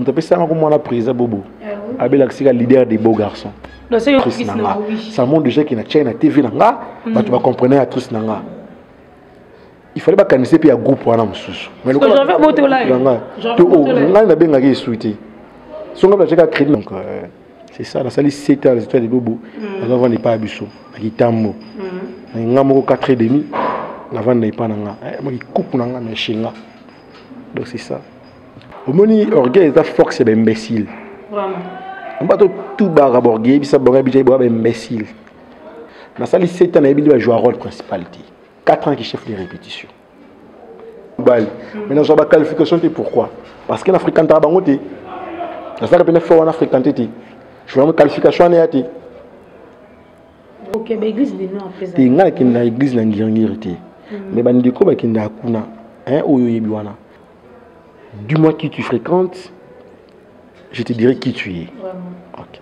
moto apesanga ko mwana président bobo ah abelaka sika leader des beaux garçons actrice na nga ça montre déjà ke na chai na tv na nga mm. bato bacomprenai actrice na nga il fallait bakanise mpe ya groupe wana mosusu ngai nabengaki esu te so ngai natiaka crédit donc euh, c'est ça nasali 7 heures étoile de bobo mm. aza vanda epai ya biso na kitambo na mm. ngai moko 4 et demi navanda epai na ngai eh, makikupu na ngai na eshenga donc c'est ça omoni orgueil eza force ya baimbécile bato tubaka borgue yebisa bango ya bitai boya baimbécile nasali 7 ans nayebi nde bajua role principalité 4 ans qui chef de répétition bali mais nazwa ba qualification te pourquoi parce que na african ta bango te nazalaka mpena fo wana african te te journal qualification wana ya te te ngai nakende na église na ngirngiri te mais bandeko bakendaka kuna oyo oyebi wana du moins qui tu fréquentes je te dirai qui tu es okay.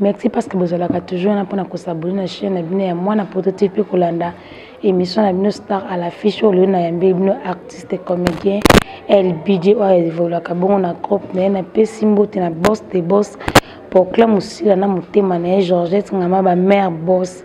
merci parce que bozalaka toujours wana mpona kosabone na chaine na bino ya mwana poto te mpe kolanda émission na bino star à la fiche oyo lelo nayambeli bino artiste comédien lbj oyo evolaka bongo na groupe na ye napesi mbote na boss de boss pokla mosila na motema na ye georgette ngama bamare boss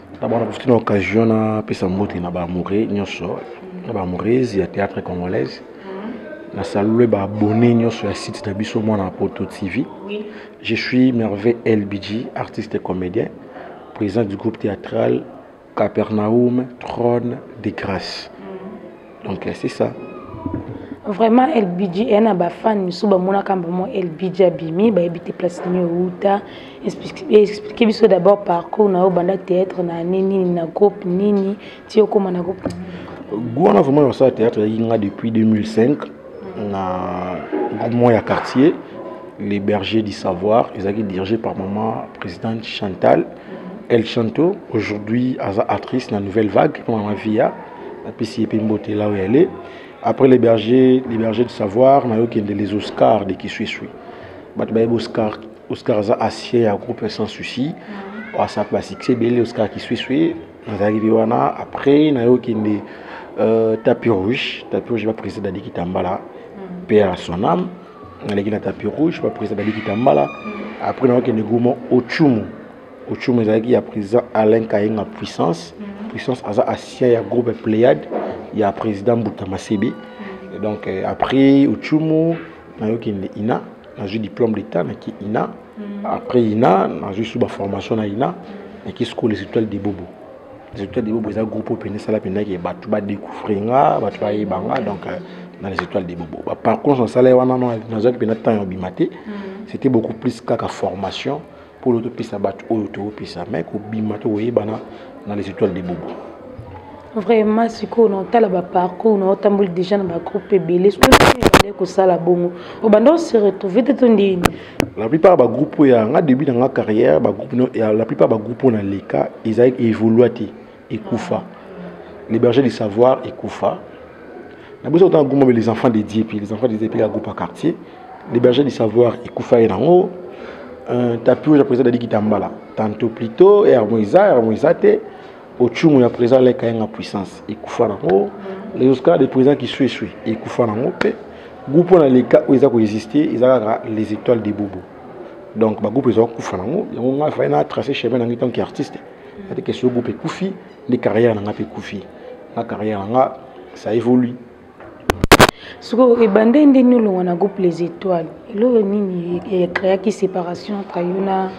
D'abord, na profite na occasion na pesa mbote na ba amoureux nyonso na ba amoureuses ya théâtre congolaise na salue ba abonné nyonso ya site na biso mwana ya poto tv je suis merveille lbg artiste et comédien président du groupe théâtral capernaum trône de grâce donc c'est ça vraiment lbg eya na bafane mosusu bamonaka mbamo lbg abimi bayebi te place nini outa explike biso d'abord parcours na yo banda théâtre na ane nini na groupe nini ti okóma na groupe wana vraiment nasala théâtre eyaki nga depuis 2005 na groupe moko ya quartier les bergers du savoir ezalaki dirigé par maman présidente chantal el chanto aujourd'hui aza actrice na nouvelle vague mama via napesi ye mpe mbote là où elle est après les bergers les bergers de savoir nayo kende les oscars de kisuisui bato bayebi oscar oscar aza asie ya groupe sans souci mm. asap basuccès ebele oscar kisuisui nazalaki mpe wana après nayo kende euh, tapis rouge tapis rouge baprésident dadi kitambala mm. mpe ya son âme naleki na tapis rouge baprésident dadi kitambala mm. après nayo kende gourmand ochumu Ochum ezalaki ya président Alain Kayenga Puissance. Mm -hmm. Puissance aza ancien ya groupe Pléiade ya président Mbuta Masebi. Mm -hmm. Donc euh, après Ochumu nayoki nde ina nazwi diplôme d'état naki ina. Mm -hmm. Après ina nazwi suba formation na ina naki school les étoiles de Bobo. Les étoiles de Bobo eza groupe oyo mpenza esala mpenza ke bato badécouvrir nga bato bayeba nga donc euh, na les étoiles de Bobo. Par contre nasala ye wana nazwaki mpenza temps ya obima te. Mm -hmm. C'était beaucoup plus kaka formation. polo topesa bato oyo topesa mai kobima to koyebana na les étoiles de bobo vraiment sikoyo naotala baparcours naotamboli déjà na bagroupe ebele sikoyoobandaki kosala bongo obanda ose retrouve te to ndini la plupart bagroupe oyo yanga début na nga carrière bagroupe la plupart bagroupe oyo na leka ezalaki évolua te ekufa les bergers du savoir ekufa na biso kotanga groupe mobe les enfants de dieu puis les enfants de dieu puis ya groupe ya quartier les bergers du savoir ekufa ye nango euh, tapi oyo ya président dadi kitambala tanto plutôt yarmo eza yarmo eza te ocumu ya président leka yanga puissance ekufa nango les oscar de président qui sue sue ekufa nango mpe groupe oyo na leka oyo eza koexiste eza kaka les étoiles de bobo donc bagroupe ezala kokufa nango yango ngai fai na trace chemin nangai tanke artiste ate question groupe ekufi nde carrière na nga mpe ekufi nga carrière na nga ça évolue sikoyo ebanda nde nini olonga na groupe les étoiles eloko nini ecreaki séparation entre yo na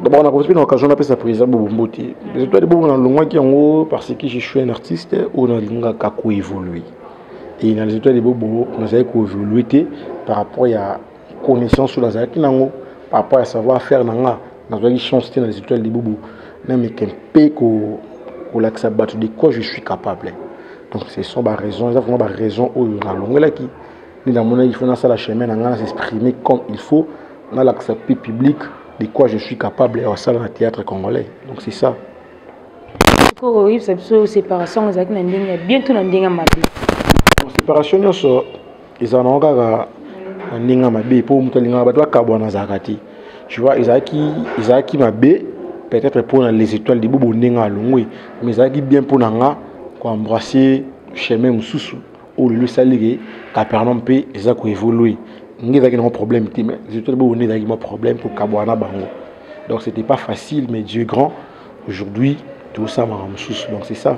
d'abord na kofi na occasion napesa président bobombo te les étoiles bongo nalongwaki yango parce que je suis un artiste oyo nalingaka koévolue et na les étoiles bobo nazali koévolue te par rapport ya connaissance oyo nazalaki nango par rapport ya savoir faire na nga nazwaki chance te na les étoiles libubu nameka mpe kolakisa bato de quoi je suis capable donc ce sont baraison eza vraiment baraison oyo nalongelaki nde namonaki il faut nasala chemin na ngai nasexprime comme il faut nalakisa mpe public de quoi je suis capable ya kosala na théâtre congolais donc c'est ça koko oyebisa biso séparation ezalaki na ndenge ya bien to na ndenge ya mabe séparation nyonso ezala nango kaka na ndenge ya mabe mpo moto alingaka bato bakabwana azalaka te tu vois ezalaki ezalaki mabe peut-être mpo na les étoiles libobo ndenge alongwe mais ezalaki bien mpo na nga koembrasse chemin mosusu oyo lelo esali ke capernaum mpe eza koévolue nge ezalaki nango problème te mais les étoiles libobo nde ezalaki mwa problème kokabwana bango donc c'était pas facile mais dieu grand aujourd'hui tozosala makambo mosusu donc c'est ça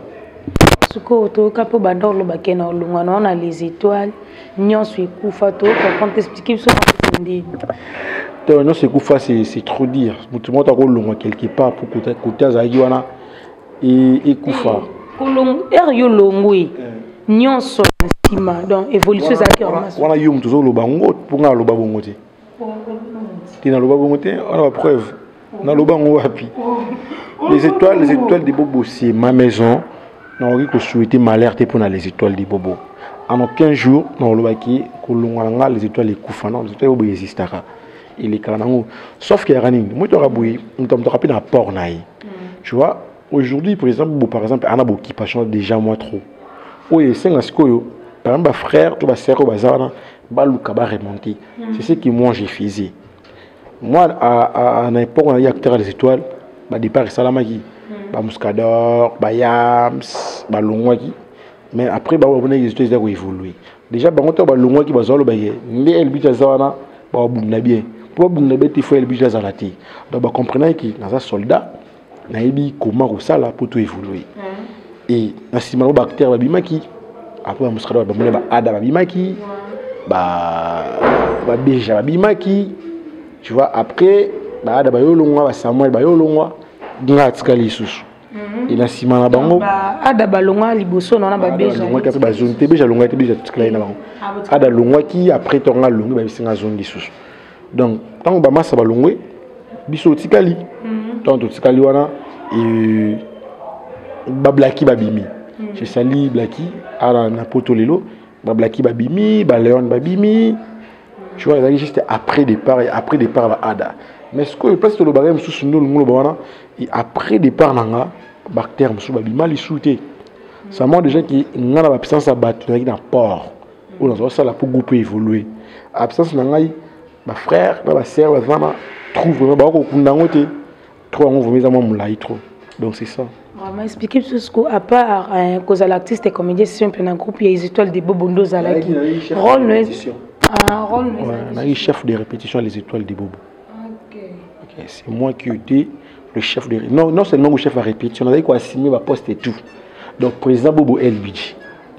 sikoyo toyoka mpo banda olobake na olongwa na ona les étoiles nyonso ekufa toyoka konte explike biso ndini to nyonso ekufa c'est trop dire moto moko akolongwa quelque part mpo kote azalaki wana e, ekufa ere yo olongwe eh. nyonso nsima donc évolution ezalaki wana yo moto ozoloba yango mpo ngai aloba bongo te te naloba bongo te wana bapreuve naloba yango wapi les étoiles les étoiles de bobo c'est ma maison nakoki kosouhaite malheur te mpo na les étoiles de bobo en aucun jour nakolobaki kolongwa na ngai les étoiles ekufa non les étoiles bobo existaka elekaka nango sauf que yaka nini moto aka boye moto moto aka mpe na apport na ye mm. tu vois aujourd'hui par exemple bo par exemple ana boccupation déjà moi trop oyo esenga sikoyo par exemple bafrère to basere oyo baza wana baluka ba remonter mm. c'est ce que moi j'ai faisais moi à, à, na époque on a eu acteur des étoiles ba départ esalamaki mm. ba muscador ba yams balongwaki mais après ba babona les étoiles ezali koévoluer déjà bango ntango balongwaki bazwa lobake nde elbit aza wana babunda bien mpo babunda bien te fo elbit azala te donc bacomprenaki naza soldat nayebi koma kosala mpo to evolue hmm. e na nsima yango baacteur babimaki apres bamusikata bamona baada babimaki babeja babimaki tu vois après baada bayolongwa basamuel bayolongwa nga atikali lisusu mhm. e na nsima na bango ada balongwa liboso na wana babejalongwaki apres bazongi te beja alongwaki te beja totikalaki na bango ah, ada alongwaki apres tonga alongi babisinga azongi lisusu donc ntango bamasa balongwe biso otikali mhm. ntango totikali wana e, bablaki babimi mhm. cesali blaki ala na poto lelo bablaki babimi baleone babimi tu vois ezalaki juste après départ et après départ baada mais sikoyo place tolobaka ye mosusu nde olingi oloba wana et après départ na nga bactère mosusu babima lisu te ça montre déjà ke nga na bapuissance ya bato nazalaki na port oyo naza kosala mpo groupe évolue absence na ngai bafrère na basœur baza na trou vraiment bakokunda yango te trop yango vraimen eza mwa molai trop donc c'est ça vraiment expliqué biso siko à part euh, kozala artiste et comédien simple na groupe ya les étoiles de bobo nde ozalaki role no ah, role no nayaki chef de répétition les étoiles de bobo okay, c'est moi qui étais le chef de non, non seulement le chef à répétition, on avait quoi assigner ma poste et tout. Donc président Bobo LBG.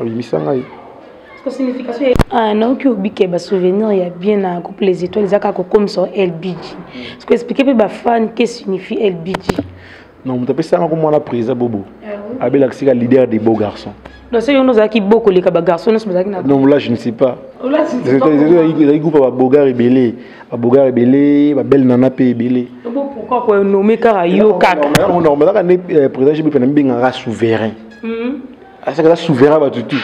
obimisa ngai ah, naoki obike basouvenir ya bien na couple les étoiles eza kaka kokomisa lbg ceque explike mpe bafan ke signifie lbg non moto apesi yanga komwana présa bobo ah abelakisika leader des beaux garçons donc soki yono ozalaki bo koleka bagarçon nyonso bazalaki na non là je ne sais pas ezalaki groupe ya babogar ebele babogar ebele babele nana mpe ebele pourquoi konome kaka yo kaka nazalaka nde président jbp na mibengaka souverain asaka aza souverain bato tu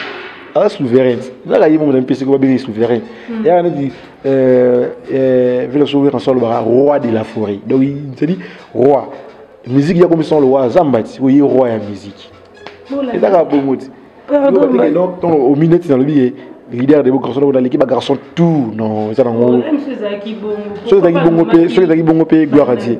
aza souverain ezaka ye moko na mpesi ko babengi souverain hmm. yaka neti euh, euh, vile so wera nso alobaka roi de la forêt donc cedi roi musique ya komisa lowa zamba ti oye roi ya musique ezaka bongo ti omi minutes dans le billet leader de bogarçon oyo naleki bagarçon tout non eza nango soki ezalaki bongo mpe soki ezalaki bongo mpe gloire adie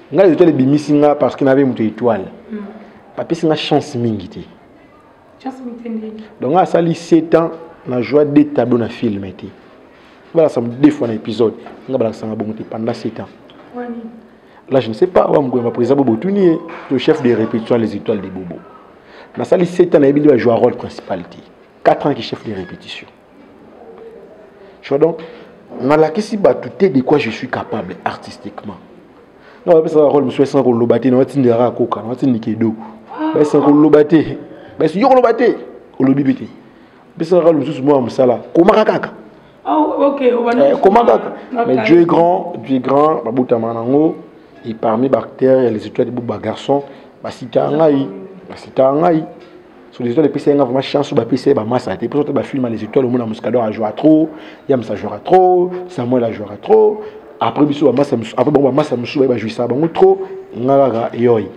ngai les étoiles ebimisi nga parce que nabe moto étoile hmm. bapesi nga chance mingi te donc asali 7 ans na joie de tableau na film te balakisama deux fois na épisode nga balakisanga bongo te pendant 7 ans là je ne sais pas wa mokoyamba président bobo tuni ye to chef de répétition les étoiles de bobo nasali 7 ans nayebi nde bajua rôle principal te 4 ans ki chef de répétition tu vois donc nalakisi bato te de quoi je suis capable artistiquement na bapesaka role mosusu esana koloba te na batindaka akoka na batindika edo baesana koloba te basi yo koloba te olobi mpe te pesaka role mosusu mwa ya mosala komaka kaka ah, eh, koma kaka mais dieu est grand dieu est grand babotama nango et parmi bactère ya les étoiles de boba garçon basitaka ngai basitaka ngai sur les étoiles epesa ye nga vraiment chance oyo bapesa ye bamasa te mposo te bafilme ya les étoiles omona muscador ajouera trop yamsa ajouera trop samuel ajouera trop après biso bamasa après bango bamasa mosusu baye bajouisaka bango trop nga kaka yoi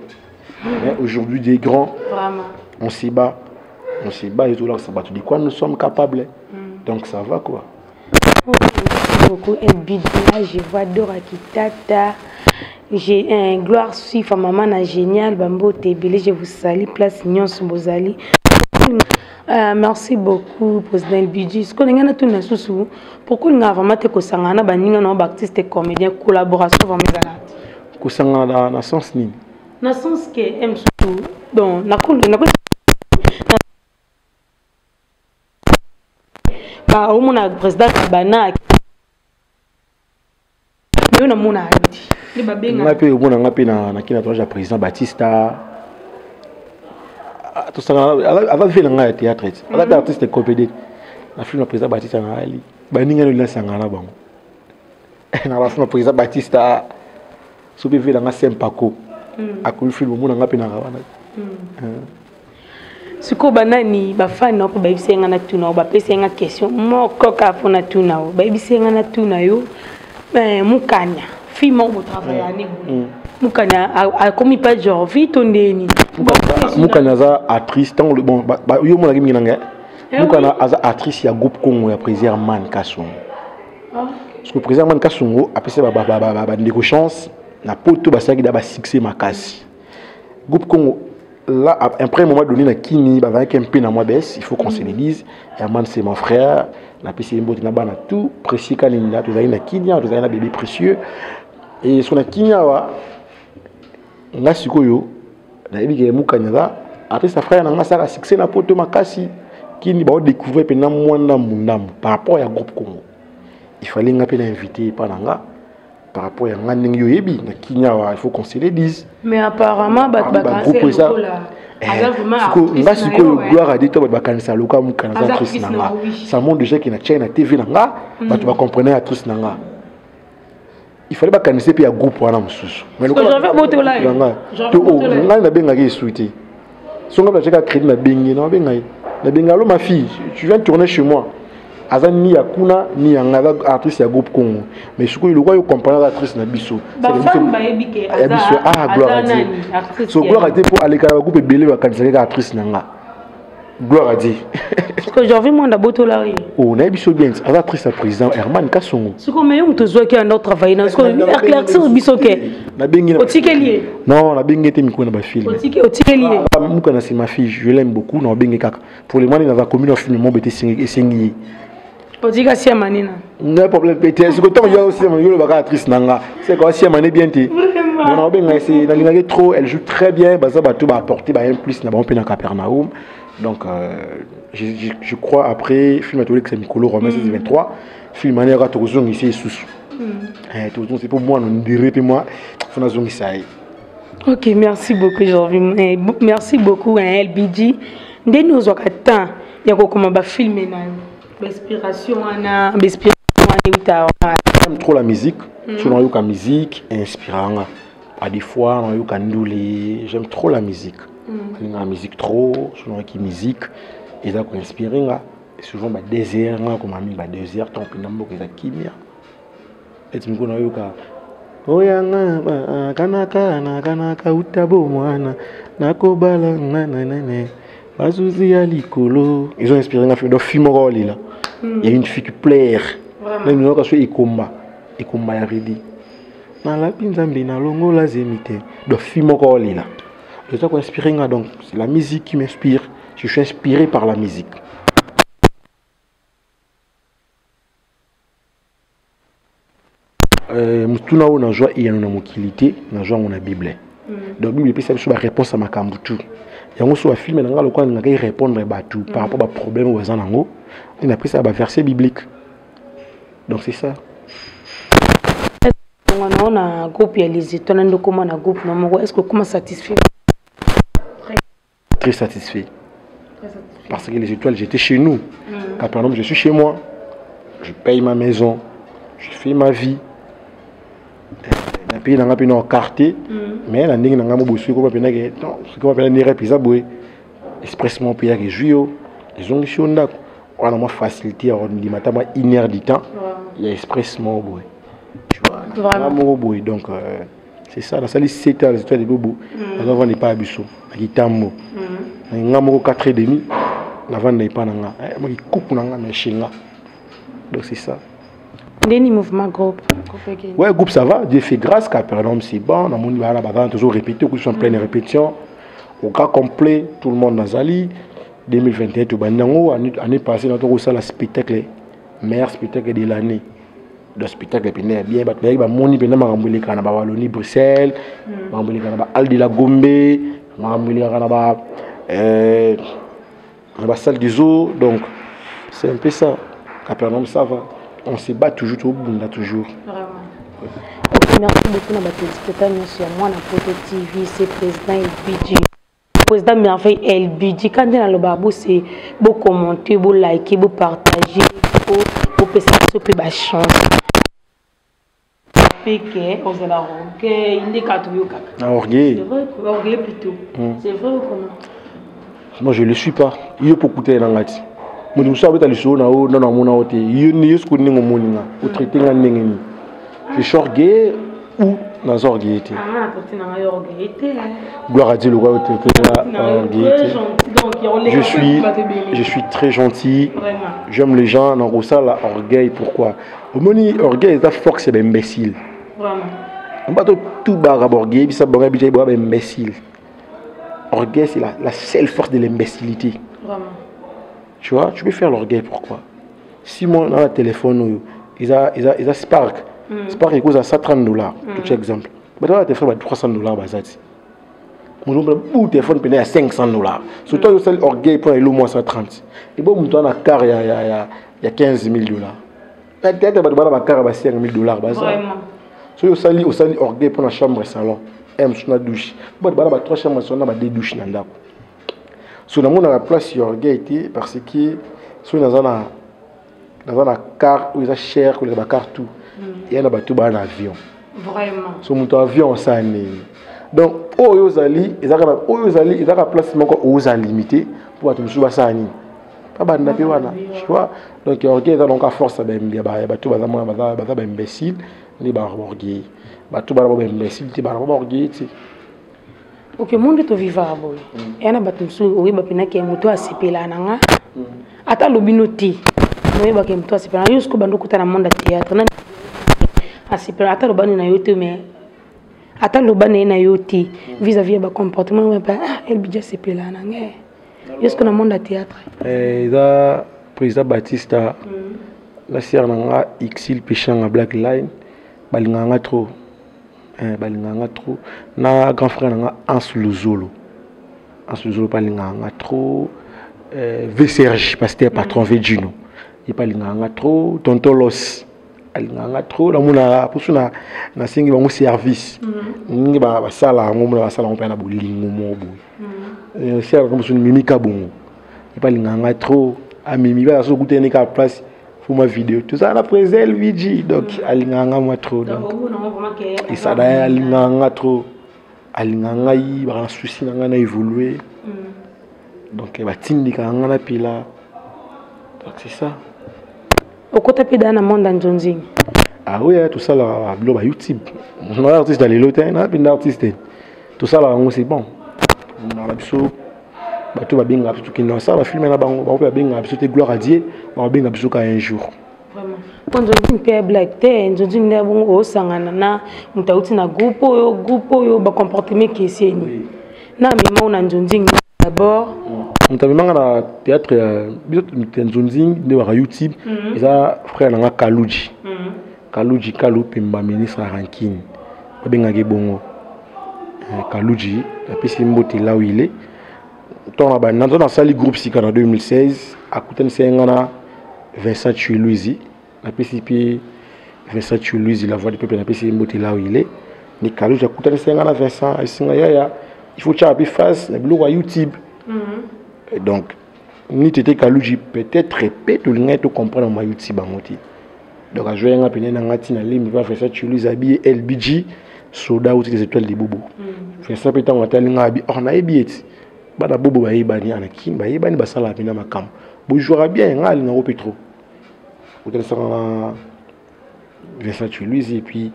mais aujourd'hui des grands on se bat on se bat ezolakisa bato de quoi nous sommes capables mm. donc ça va quoi beaucoup et bidna je vois Dora Kitata j'ai un gloire Sifa maman na génial bambote ebele je vous salue place nyonso bozali Uh, merci beaucoup président bidji sikoyo ndenge natuni na susu pourkoi olingaka vraiment te kosangana na baninga na baartiste comédien collaboration vraiment ezalaka te kosangana na sens nini na sens ke msusu donc nakoli ba omona president kabana yo namona alidi nde babenga ngai mpe omona ngai mpe na kina toage ya président batista ah, tosangana aza vie na ngai ya théâtre ti aza mpe mhm. artiste compede na film ya président batista na ali baninga nolina sangana na bango na ba film président Batista soki vela nga sempako hmm. akomi film omona nga mpe na wana hmm. sikoyo banani bafani nao mpe bayebisa ye nga na tuna yo bapesa ye nga question moko kaka mpo na tuna yo bayebisa ye nga na tuna yo eh, mukanya fille moko botravaille ane boye mukanya akomi pa jorvi to nde nini mukanya aza actrice ntango bon yo omonaki mingi na ngai eh mukanya aza actrice ya groupe congo ya présier man kasongo ah. parce que président man kasongo apesa bandeko chance na poto basalaki da basuccès makasi groupe congo là à un premier moment donné na kini bazalaki mpe na mwa baisse il faut qu'on se le dise herman c'est mon frère napesi ye mbote na bana tout précieux kaninda tozalaki na kini awa tozalaki na bébé précieux et so na kini awa nga sikoyo nayebi ke mukanya aza artiste ya frère na nga asala succès na poto makasi kini baodécouvrir mpe na mwa ndambu ndambu par rapport ya groupe congo il fallait nga mpe na invité epa na nga par rapport ya nga ndenge oyebi na kini awa il faut qu'on se le dise mais apparemment bato bakanisa lokola eh, nga sikoyo gloire adi to bato bakanisa lokola mokana aza actrice na nga ça montre déjà ke na chai na tv na nga hmm. bato bacomprene actrice na nga il fallait bakanise mpe ya groupe wana mosusu ngai nabengaki esu te so ngai natiaka crédit nabengi na babenga ye nabenga alo ma fille tu viens tourner chez moi aza ni ya kuna ni ya ngai aza artiste ya groupe congo mais sikoyo lokola yo comprendre artiste na biso ya biso ah gloire a dieu so gloire a dieu mpo alekaka bagroupe ebele bakanisaki kaka artiste na ngai gloire à dieu siko jorvi mwanda abotola ye o oh, nayebi so bien aza triste ya président herman kasongo siko me yo moto ozwaki yanda otravaille na siko éclaircir biso ke otikeli ye non nabengi ye te mikolo na bafilme otikeli ye ah, muka na nsima fille je l'aime beaucoup na obenge kaka pour le moment naza commune ya filme mobe te esengi ye otika siama nina na problème pe te siko ntango yo siama yo olobaka actrice na nga seko siama ne bien te mona obenga ese nalingaki trop elle joue très bien baza bato baapporte ba un plus na bango mpe na capernaum donc euh, je, je, je crois après film atolekisa mikolo romain 16 23 film wana yaka tokozongisa esusu tokozongisa mpo mwana ondire mpe mwa fona azongisa ye ok merci beaucoup jorvin eh, merci beaucoup hein, lbg nde nini ozwaka temps ya kokoma bafilme na yo bainspiration wana bainspiration wana euta j'aime trop la musique mm. so nayoka musique inspira nga à des fois nayoka ndule j'aime trop la musique mm. nalingaka musique trop so nayoki musique eza koinspire nga souvent badésert nga komami badésert ntango mpenza mboka eza kimia eti mokolo nayoka oyanga ah, kanaka na kanaka uta bomwana nakobala nga nanene basusi ya likolo ils ont inspiré nga donc fille moko olila hmm. ya une fille qui plaire meme nayoka so ekomba ekomba ya redi nalapi nzambe nalongola zemi te donc fille moko olila eza koinspire nga donc c'est la musique qui m'inspire je suis inspiré par la musique Euh, motuna oyo nazwa eyano na mokili te nazwa yango na bible mm. donc bible epesa biso baréponse ya makambo tu yango so bafilme na ngai lokola ningaki répondre bato par rapport baproblème oyo baza nango nde napesaka baverset biblique donc c'est ça ongana na groupe ya lizito na ndokoma na groupe na moko est ce que okoma satisfait Très satisfait. Très satisfait. Parce que les étoiles, j'étais chez nous. Mmh. Quand par exemple, je suis chez moi, je paye ma maison, je fais ma vie. na pays nanga mpe na quartier mm. mais na ndenge nanga mobosi ekoba mpenza ke sikoba mpenza ndenge rep eza boye expressement mpe yaka ezwi yo ezongisi yo ndako wana mwa facilité ya kondima ata mwa une heure du temps ya expressement boye tu vois moko boye donc euh, c'est ça nasali 7 ans les étoiles de bobo mm. naza vanda epai ya biso na kitambo mm. nga moko 4 et demi navanda epai na nga eh, maki kuku na nga na eshenga donc c'est ça ndeni mouvement groupe ouais groupe ça va dieu fait grâce capernaum c'est bon namoni bana bazana toujours répété okuti en pleine mm. répétition au cas complet tout le monde nazali 2021 tobandi yango année passée na tokosala spectacle meilleur spectacle de l'année do spectacle mpenza ya bien bato bayaki bamoni mpenza makambo elekaka na bawaloni bruxelles hmm. makambo elekaka na baal de la gombe makambo elekaka na ba euh, na basalle des eaux donc c'est un peu ça capernaum ça va on se bat toujours tobunda toujours merci beaucoup na bato ya spectacle nyonso ya mwana poto tv se président ebidi président merveille elbidi ka nde nalobaka bose bocommente bolike bopartage po bopesa biso mpe bachance peke ozala orgueil nde kaka toyokaka na orgueil orgueil plutôt hmm. c'est vrai ou comment moi je le suis pas yo mpo okutani na ngai ti moto mosusu abeta lisolo na yo nano amona yo te yo soki oninga omoni nga otraite nga ndenge nini je suis orgueilleux ou naza orgueilleux te gloire à dieu lokola yo te orgueilleux te je suis je suis très gentil j'aime les gens nakosala orgueil pourquoi omoni orgueil eza force ya baimbécile bato tubaka borgueil bisa bango yebisa boya baimbécile orgueil c'est la, la seule force de l'imbécilité tu vois tu peux faire l'orgueil pourquoi Simon na téléphone oyo eza eza eza Spark. Mm. Spark ekoza 130 dollars. Mm. Tu exemple. Bato ya téléphone ba 300 dollars bazati. Mulomba bu téléphone pena ya 500 dollars. Surtout yo sali orgueil pour elo moins 130. Et bon mutu na car ya ya ya ya 15000 dollars. Na tete bato bana ba car ba 5000 dollars baza. Vraiment. So yo sali osali orgueil pour na chambre salon. M sur la douche. Bato bana ba trois chambres salon na ba deux douches na ndako. so namonaka place ya orgueil te parce que soki naza na naza na car oyo eza cher koleka bacar tout mm. eya na bato baa na avion so moto avion osala nini donc oyo ozali ezaka oyo ozali ezaka place moko oza limité mpo bato mosusu basala nini babanda mpe wana vois donc orgueil eza donc aforce ya bato baza baimbécile nde baorgueil bato bana ba baimbécile te bana ba baorgueil te ok monde tovivaka boye mm. eya na bato mosusu oyeba mpena ke moto asepela na nga mm. ata alobi no te oyeba ke moto asepela na yo siko bando okuta na monde ya théâtre na asepela ata alobani na yo te mais ata aloba na ye na yo te mm. vis à vis ya bacomportement oyo mpe ah, elbidi asepela na nga eh. yo siko na monde ya théâtre eh, eza président batista na sere na nga exil peshanga black line balingaka nga trop eh, balingaka nga trop na grand frère na nga ans luzolo ans luzolo mpe alingaka nga trop eh, vserge pasteur patron mm. vegino ye mpe alingaka nga trop tontolos alingaka nga trop namonaka mposo nasengi bango service mm. ndenge basala yango mona basala yango mpe na bolingo moko boye mm. eh, seraka mosusu mimika bongo ye mpe alingaka nga trop amimi baa soki okutani kaka place pour ma vidéo tozala na président luigi donc mm. alingaka nga mwa trop donc esada ye alingaka nga trop alingaka ngai baka na souci na ngai na évolue mm. donc eh, batindikaka nga na pila donc c'est ça okota mpe daa na monde ya nzonzingi aoya ah eh, tosalaka bilo ba youtube na artiste ya lelo te na mpe nda artiste te tosalaka yango c'est bon na biso bato babengaka biso kende basala bafilme na bango bango mpe babengaka biso te gloire à dieu bakobenga biso ka un jour mpo nzonzi mpe ya blake te nzonzi nde bongo osangana na moto auti na groupe oyo groupe oyo bacomportement ekeseni na memao na nzonzi d'abord moto amemanga na théâtre ya nzonzi nde baka youtube mhm. eza frère na nga kaluji mhm. Kaluji Kalu Pemba ministre ya rancune babengaka ye bongo eh, Kaluji apesi mbote là où il est ntango na banda ntango nasali groupe sika na 2016 akutanisi ye ngai na Vincent Chiluizi napesi mpe Vincent Chiluizi la voix du peuple napesi ye mbote là où il est ni Kaluji akutanisi ye ngai na Vincent ayebisi ngai yaya il faut tyaka mpe face na biloko ya YouTube mm-hmm. donc ni tete Kaluji peut-être mpe tolingaki tocomprendre ma YouTube yango te donc azwai nga pene na nga ti na lembi mpa fesa chulus abiye lbg soda uti des étoiles libobo mm. fesa mpe ntango atali nga abi or oh, nayebi ye ti bana bobo bayebani ana kin bayebani basalaka mpena makambo bojouaka bien nga alingako mpe trop otalisaka nga Vincent Chuluizi et puis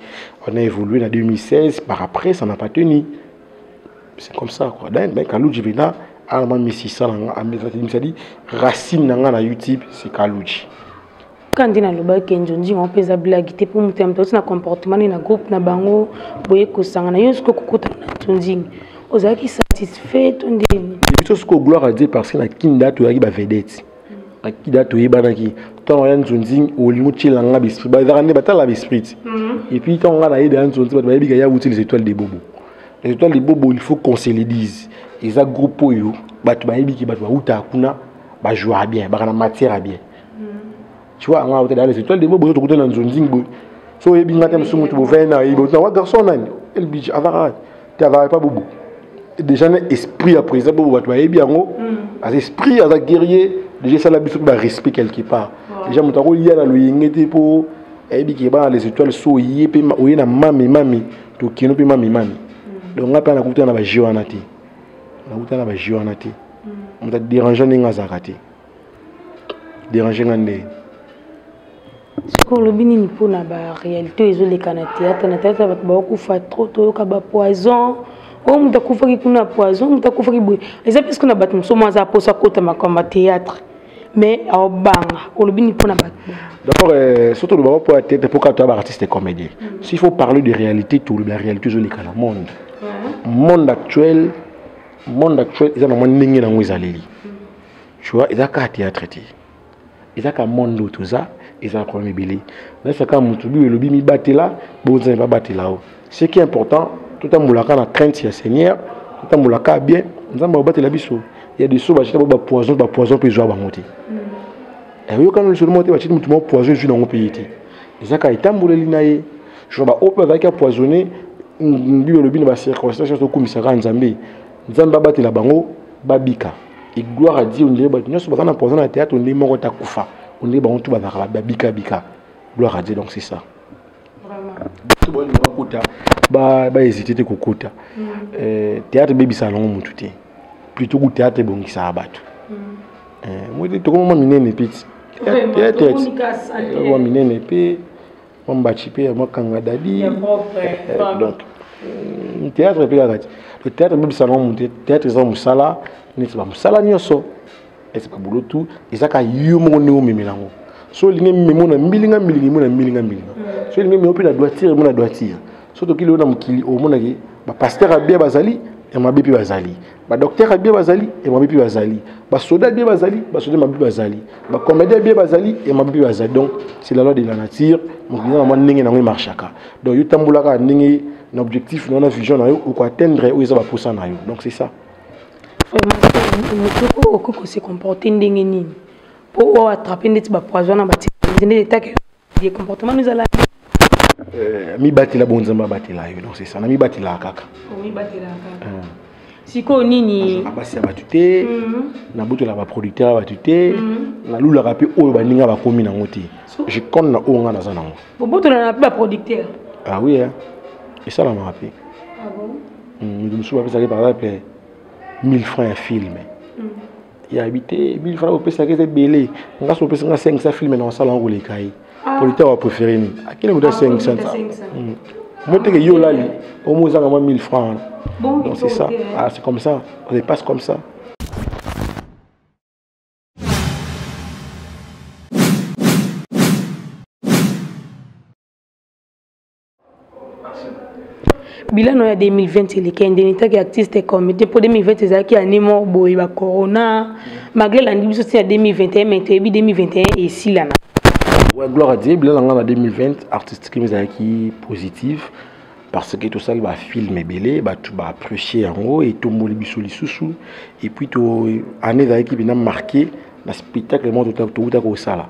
on a évolué en 2016 par après ça n'a pas tenu c'est comme ça quoi donc ben Kaluji Vena a mis 600 en 2016 racine na nga na YouTube c'est Kaluji kandi nalobaki kenzo ndima mpe eza blagi te mpo moto ya moto auti na comportement nini na groupe na bango boye kosangana yo soki okokutana na tondini ozalaki satisfait to ndeni biso soki gloire a dieu parce que na kinda toyaki bavedete na kinda toyebanaki ntango ya nzonzing olingi otyela nga besprit bazalaka nde batala besprit mhm. epuis ntango nga nayede ya nzonzi bato bayebika ya wuti les étoiles de bobo les étoiles de bobo il faut qu'on se le dise eza groupe oyo bato bayebiki bato bawutaka kuna bajouaka bien baka na matière ya bien tu vois nga otela dans les étoiles de bobo tokuta na nzonzing boy so oyebi nga te mosusu motu bovai na yebi na wa garçon nani elbij avara te avara epa bobo déjà na esprit ya président bobo bato bayebi yango aza esprit aza guerrier déjà esala biso mpe barespect quelque part déjà moto akolia na loyenge te mpo ayebi ke bana les étoiles so oye mpe oye na mami mami tokino mpe mami mami donc nga mpe nakutana na bajeu wana te nakutana na bajeu wana te moto aderange ndenge azalaka te dérange nga nde soki olobi nini mpo na baréalité oyo ezoleka na théâtre na théâtre bato baokufa trop toyoka bapoison oyo oh, moto akufaki kuna poison moto akufaki boye eza mpe soki na bato mosusu mwa aza mposa akota makambo ya théâtre mais aobanga olobi nini mpo na bato d'abord euh, soki tolobaka mpo ya théâtre mpo kaka toya baartiste comédien mm. s'il faut parler de réalité tolobi ya réalité ezoleka na monde monde actuel monde actuel eza na mwa ndenge na yango ezaleli tu vois eza kaka théâtre te eza ka monde oyo toza eza problème ebele nayesa kaka motu biyo elobi mibatela bonzambe babatela o ce qui est important totambolaka na crainte ya seigneur totambolaka bien nzambe akobatela biso ya biso bacita bo bapoison bapoison mpe ezwa bango te eh, oyokana lisolo moko te baciti motu moko poison ezwi nango mpe ye te eza kaka etamboleli na ye jo baoyo mpe bazalaki apoisonne biyo elobi na bacirconstance nyonso okumisaka nzambe nzambe abatela bango babika et gloire à Dieu ondire bato nyonso baza na poison na théâtre ondire moko ta kufa ondire bango tout bazalaka babika bika gloire à Dieu donc c'est ça bato baoyo bakota bahésite te kokota mm. euh, théâtre ebebisaka nango motu te plutôt ku théâtre ebongisaka bato mm. euh, moi tokomama minene peti théâtre minene mpe mwa mbaci mpe ya mwa kanga dadi Ya propre, Eh, eh, propre. donc mm, théâtre mpe kaka ti le théâtre ebebisa nango moto te. théâtre eza mosala neti bamosala nyonso eza babolo tu eza ka yo moko ndenge omemela yango so olingi memo na mbilinga mbilinga emo na mbilinga mbilinga so olingi memo mpe na doitire emo na doitire so tokili yo na mokili omonaki bapaster ya bia bazali ya mabe mpe bazali ba docteur abie bazali et mabibi bazali ba soda abie bazali ba soda mabibi bazali ba comédien abie bazali et mabibi bazali donc c'est la loi de la nature mokili na ndenge na ngoi marchaka donc yo tambulaka ndenge na objectif na na vision na yo ou ko atteindre ou eza ba posa na yo donc c'est ça motoko okoki kose comporte ndenge nini mpo oyo attrape ndeti bapoison na batikende etake ye comportement nous ala euh, mibatela bonzambe abatela yo donc c'est ça na mibatelaka kaka omibatelaka kaka euh. sikoyo nini basi ya bato te mhm. nabotolaka baproducteur ya bato te mhm. nalulaka mpe oyo baninga bakomi nango te je compte na oyo ngai naza nango bobotolana mpe baproducteur ah oui hein. esalamaka mpe ah mitu mosusu bapesaki par exemple 1000 francs ya filme ya bi te bili fana kopesaka eza ebele nga so opesa nga 500 filme na osala yango koleka ye ah. politaire wa préféré nini akende kuta 500 moteke yo olali omo ozanga mwa 1000 francs wana donc c'est ça ah, c'est comme ça on dépasse comme ça bilano ya 2020 eleki endeni taki artiste comité mpo 2020 ezalaki ya nimo boye ba corona malgré elandi biso ti ya 2021 mai toyebi 2021 esilana ouais, gloire à dieu bilana nga na 2020 artiste kimi ezalaki positive parce que tosali bafilme ebele bato baapprécie yango etomboli biso lisusu epuis année ezalaki mpena marqué na spectacle moko touta kosala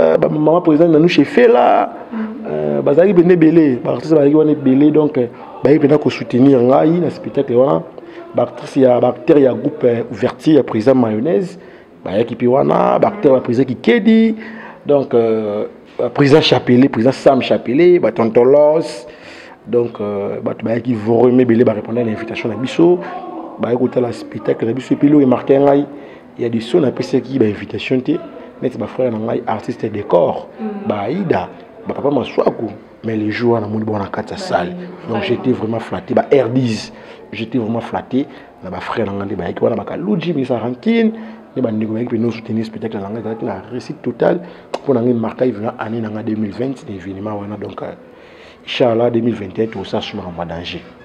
Euh, ba maman président na nous chez Fela euh, bazali bende belé ba artiste bazali wana belé donc euh, ba yebena ko soutenir ngai na spectacle wana ba artiste ya ba acteur ya groupe ouverture ya président mayonnaise ba yaki pi wana ba acteur ba président kikedi donc euh, président Chapelet président Sam Chapelet ba tontolos donc euh, bato bayaki vraiment ebele barépondre na invitation na biso baye kotala spectacle na biso epi eloko emarke ngai ya diso napesaki bainvitation te neti bafrere na ngai artiste ya décor mm. baaida bapapa maswaku mais le jour wana namoni bango na kati ya salle donc j'étais vraiment flatté ba rdis j'étais vraiment flatté na bafrere na ngai nde bayaki wana bakaluji misa rankine nde bandeko bayaki mpe nosoutenir spectacle na ngai ezalaki na réussite totale mpo na ngai markai vraimen année na ngai 2020 na événement wana donc euh, inchallah 2021 tosasumaka mwa danger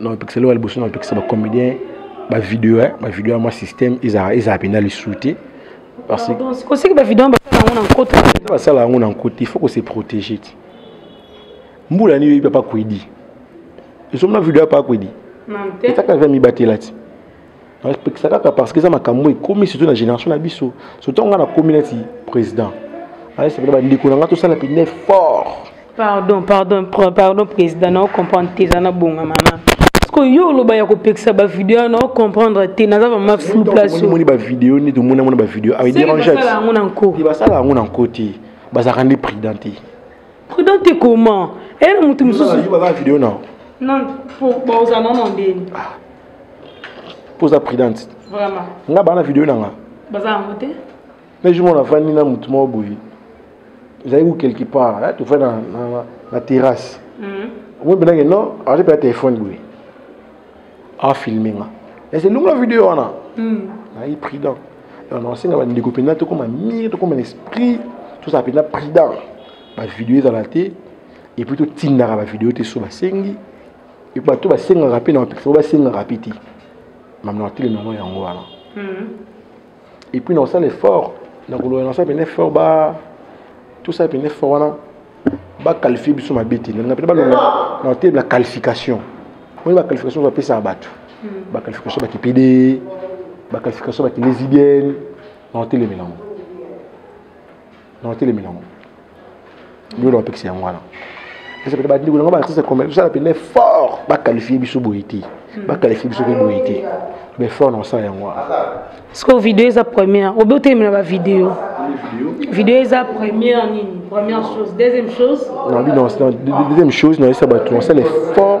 na bapekiseli oyo ya liboso na bapekisa bacomédien bavideo eh, bavideo ya mwa système ezala mpenza lisusu te osiki bavideo basala yango na nkota basala yango na nkota il faut ko se protéger ti mbula nini oyebi papa kwedi ezomona video ya papa kwedi etaka ve mibatela ti napekisa kaka parce que eza makambo ekomi surtout na génération na biso surtout ngai nakomi neti président ayesepela bandeko na ngai tosala pene effort pardon pardon pardon président nao comprendre te eza na bonga mama parceke yo oloba ya kopekisa bavideo wana ocomprendre te naza vraimen flou placeomoni bavideo nde tomoni amona bavideo aderangeebasala yango na nko basala yango na nko te bazalaka nde prudent te prudent te comment eye na moto mosusu video nao non bozana na ndeni mpo oza prudente nga baa na video na nga na jour mona afandi na motu moko boye ezali ku quelque part eh, tofandi na terrasse mhm. omoi mpenake non aza mpe ya telefone boye afilme nga ese lunga video wana mhm. nayi prudent nasenga bandeko mpenza tokoma mire tokoma na esprit tozala mpenza prudent bavideo ezala te epuis totindaka bavideo te so basengi bato basengaka mpe na bapekisa po basengaka mpe te mame na batele nango yango wana hmm. et puis na kosala effort na koloba na kosala pene effort ba tosala pene effort wana baqualifie biso mabe te nalinga mpena balonga na batele na qualification oyo baqualification bapesaka bato hmm. baqualification bakipede baqualification bakilesibienne na otelemela yango na otelemela yango bino bapekisa yango wana esepela bandeko na ngai baartiste commun tosala mpenza effort baqualifie biso boye te hmm. baqualifie biso mpe boye te mais effort na osala yango wana sikoyo video eza première obe otelemela bavideo video eza première nini première chose deuxième chose deuxième chose na yesa bato nasala effort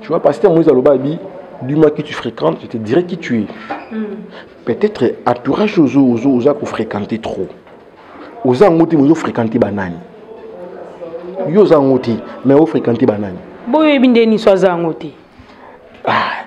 Tu vois, pasteur Moïse Aloba a dit Dis-moi qui tu fréquentes, je te dirai qui tu es. Mm. Peut-être entourage ozo ozo oza ko fréquenter trop. Oza ngoti ozo fréquenter banani. Yo oza ngoti mais o fréquenter banani. Boyo ebinde ni so aza ngoti. Ah.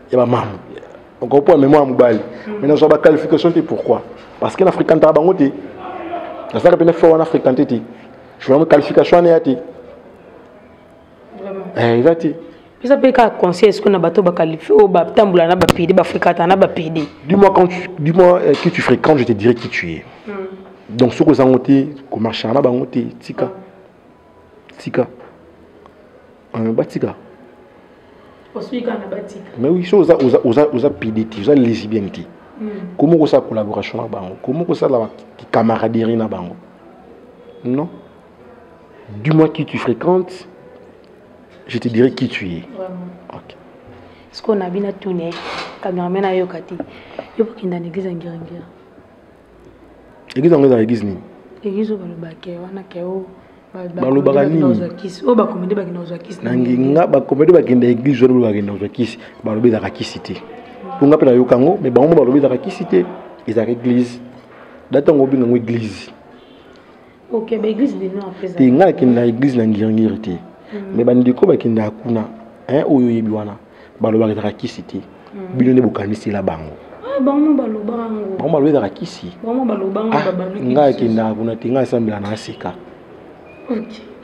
ya ba mamu encore pour mémoire mobali mm. mais nazwa ba qualification te pourquoi parce que na fréquentaka bango te nazalaka mpe na fo wana fréquente te journal qualification wana ya te eh, eza te eza mpe kaka conseil esiko na bato bakalifie oyo batambola na bapede bafréquenta na bapede dis-moi quand dis-moi euh, qui tu fréquente je te dirai qui tu es mm. donc soki ozango te komarchaka na bango te tika mm. tika euh, batika mais oui so oza, oza, oza, oza pide te oza lesbienne te hmm. komi okosala collaboration na bango komi okosala camaraderie na bango non du moins qui tu fréquentes je te dirai qui tu es okay. sikoyo na bino atuni cameraman ayoka te yo bokenda na église ya ngirangira eglise yango ezala eglise nini eglise oyo balobaka wana ke o balobaka ninina nginga bakomede bakenda eglise wana baloba bakenda kozwa kisi balobi ezaka kisi te mpo nga mpe nayoka yango me bango mo balobi ezaka kisi te ezaka eglise data yango obinga yango eglise Okay, ba église de non après. Te ngai nakende na église na ngirngiri te. Mm. Mais bandeko bakendaka kuna hein, oyo oyebi wana balobaka ezaka kisi te mm. bino nde bokanisela bango ah, bango baloba ezaka kisi ah, ngai akendaka kuna te ngai asambela na aseka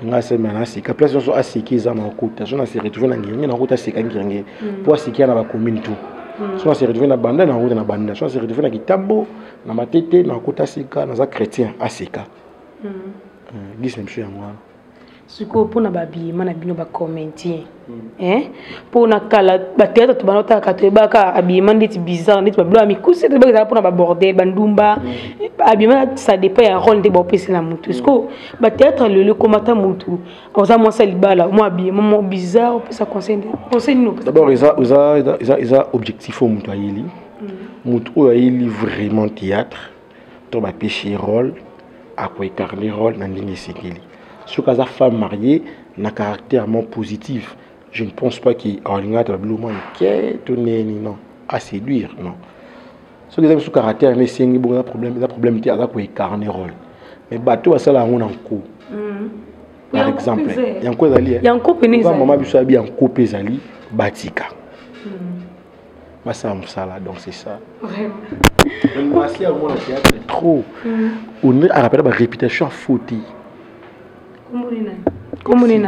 ngai asambela na aseka place nyonso aseki eza makota so na se retrouve na ngenge nakota aseka ngenge mpo mm. asekia na bacommune tout so na se retrouve na banda nakota na banda so na se retrouve na kitambo na matete na kota sika naza chrétien asika mm. euh, gis na biso yango wana sikoyo mpona babima na bino bacomédien mpo hmm. na kala bateatre to bana otalaka toyebaka abima ndeti bizarre ndeti babilo ya mikuse toyebaka ezalaka mpona babordel bandumba hmm. abima ça dépend ya role nde baopesi na motu sikoyo hmm. bateatre lelo ekomata motu oza mwasi ya libala mwa abima mwa bizarre opesa conseil nde conseil nini opesa d'abord eza objectif oyo motu ayeli motu oyo ayeli vraiment théâtre to bapesi ye role akoecarne role na ndenge esengeli soki aza femme mariée na caractère mo positif je ne pense pas ke alingaka tala biloko mwa mike to neni non aséduire non soki eza biso caractère na esengi bongo eza problème eza problème te aza koecarne role mais bato oyo basala yango na nko mm. par exemple yanko ezali eh? mama biso yabi yanko mpe ezali batika basala mosala donc c'est ça mwasi yango na théâtre trop mm. ondire arapela ba réputation ya foti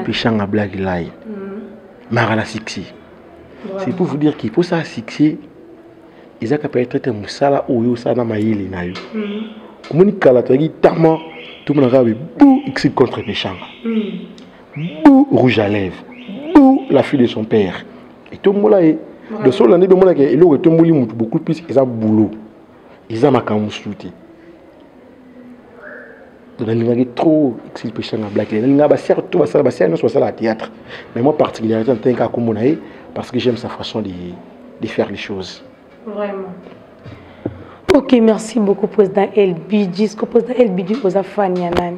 peshanga black line mm. mara na succès c'est pour vous dire qu'il faut ça succès eza kapa etraite mosala oyo osala na mayele na yo mm. omoni kala toyaki tama tomonaka bebu exit contre peshanga bou rouge à lèvres bou la fille de son père etombola ye de so olandi mpe omonaka eloko etomboli motu beaucoup plus eza boulot eza makambo mosusu te nalingaki trop exilpeshanga blakile nalingaka basiaka to basala basiaka nyonso basala ya théâtre mais moi particularité natani kaka kombo na ye parce que j'aime sa façon de, de faire les choses vraiment ok merci beaucoup président elbidji ce que président elbidji oza fan ya nani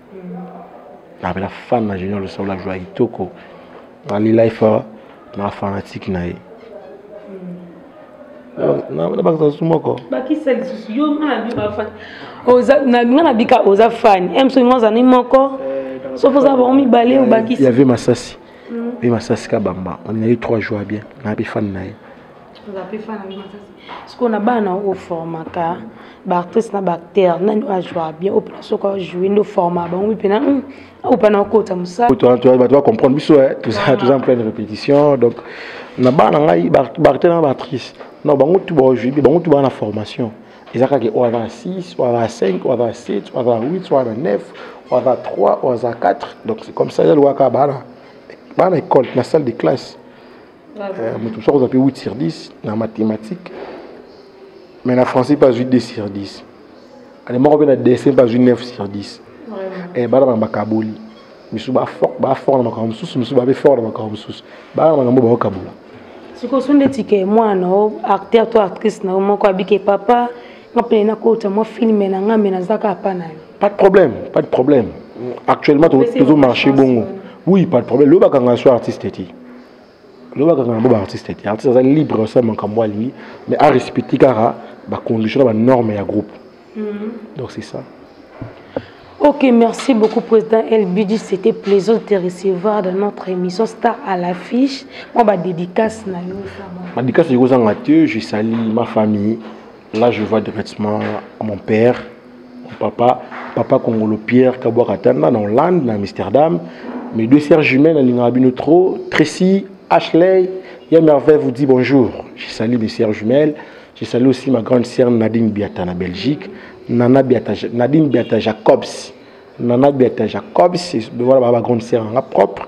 napela fan na junior losolo la joie kitoko nalela efa na fanatike na ye nabakisa lisusu moko bakisa lisusu yo nga nabika oza fani emso nga ozani moko eh, soki oza bango mibale obakisi yave masasi ve masasi kabamba on a eu trois jours bien nayebi fani na ye sikoyo na bana oformaka baartiste na baacteur nani oyo ajua bien oyo mpena soki ajoue nde oforma bango mpena hmm, oyo mpena okota mosalabato bacomprendre biso eh, toza en pleine répétition donc na bana ngai baacteur na baactrice non bango tu baojui bien bango tu baa na formation eza kaka oyo aza na 6 oyo aza na 5 oyo aza na 7 oyo aza na 8 oyo aza na 9 oyo aza na 3 oyo aza na 4 donc c'est comme ça eza lokola kaka bana bana école na salle de classe euh, moto mosusu akozwa mpe 8 sur 10 na mathématique mais na français mpe azwi 2 sur 10 alemoko mpe na dessin mpe azwi 9 sur 10 eh, bana bana bakaboli misusu bafort na makambo mosusu misusu babe fort na makambo mosusu bana makambo baokabola sikoyo so ndeti ke mwana o acteur to actrice na yo moko abike papa nga mpene nakota mwa filme na nga me naza kaka pa na yo pas de problème pas de problème actuellement tozo marché bongo oui pas de problème loyebaka nga so artiste te loba kaka na bo ba artiste te artiste aza libre asala makambo alingi mais a respecte kaka ba condition na ba norme ya groupe mhm. donc c'est ça Ok, merci beaucoup, Président LBD. C'était plaisant de te recevoir dans notre émission Star à l'affiche. Moi, ma dédicace, ma dédicace, je salue ma famille. Là, je vois directement mon père, papa papa kongolo pierre kabwa katana na hollande na amsterdam mes deux sœurs jumelles nalingaka bino trop tracy ashley ya merveille vous dit bonjour je salue mes sœurs jumelles je salue aussi ma grande sœur nadine biata na belgique nana biata nadine biata jacobs nana biata jacobs voilà ma grande sœur nanga propre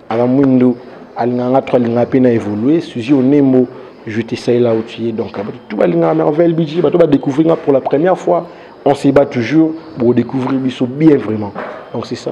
Ala Mwindo alingaka nga trop alingaka mpe na évoluer Suzy Onembo je te sais là où tu es donc bato tout balingaka merveille bidji bato badécouvrir nga pour la première fois on se bat toujours pour découvrir biso bien vraiment donc c'est ça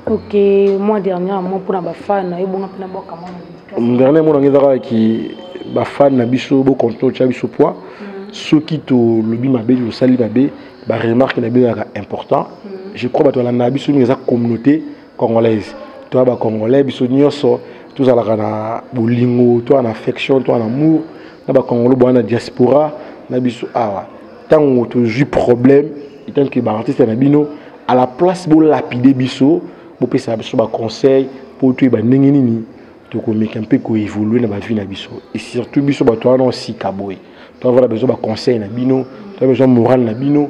ok moi dernièrement mpona bafan na yo bonga mpe na bwaka mwana dernier mona nga ezaka ki bafan na biso bokonto otya biso poids mm. soki tolobi mabe tosali mabe baremarke na biso ezalaka important mm. je crois bato balandaka biso mingi eza communauté congolaise toya ba congolais biso nyonso tozalaka na bolingo toya na affection toya na amour na ba congolo boya na diaspora na biso awa ntango tozwi problème etant que baartiste na bino à la place bolapide biso bopesa biso baconseil mpo toyeba ndenge nini tokomeka mpe koévolue na bavie na biso et surtout biso bato wana osika boye toavala besoin baconseil na bino toa besoin morale na bino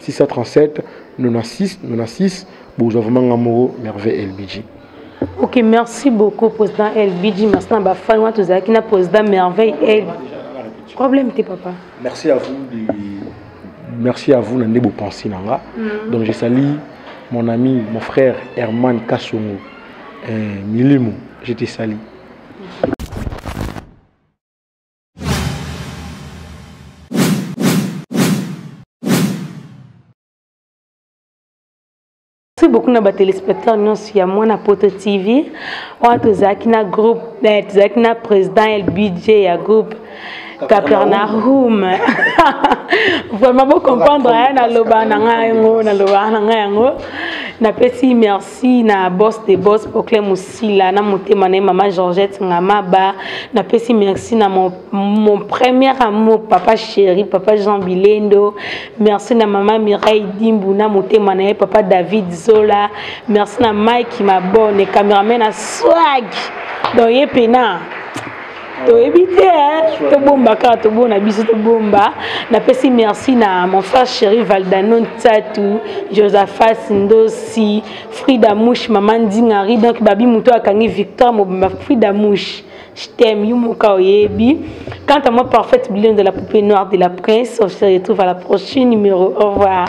637 96 96 bozwa vraiment nga moko merveille elbiji ok merci beaucoup président elbiji merci na bafani wana tozalaki na président merveille el problème te papa merci à vous de... merci à vous na nde bopensi na nga mm. donc je sali mon ami mon frère herman kasongo eh, milimo je te sali merci beaucoup na batelespectateur nyonso ya mwana poto tv wana tozalaki na groupe eh, tozalaki na président ya budget ya groupe capernaum vraiment bocomprendre aya naloba na ngai yango naloba na ngai yango napesi merci na boss de boss poclemus sila na motema na ye mama georgette ngamaba napesi merci na mon, mon premier amour papa chéri papa jean bilendo merci na mama mireille dimbu na motema na ye papa david zola merci na mike mabone cameraman na swag donc ye pena toyebi te tobomba kaka tobona biso tobomba napesi merci na mon frère chéri valdano ntatu josephas ndosi Frida Mouche maman Ndingari donc babi moto akangi Victor Mobimba Frida Mouche je t'aime Yumuka Oyebi quant à moi parfaite blonde de la poupée noire de la prince on se retrouve à la prochaine numéro au revoir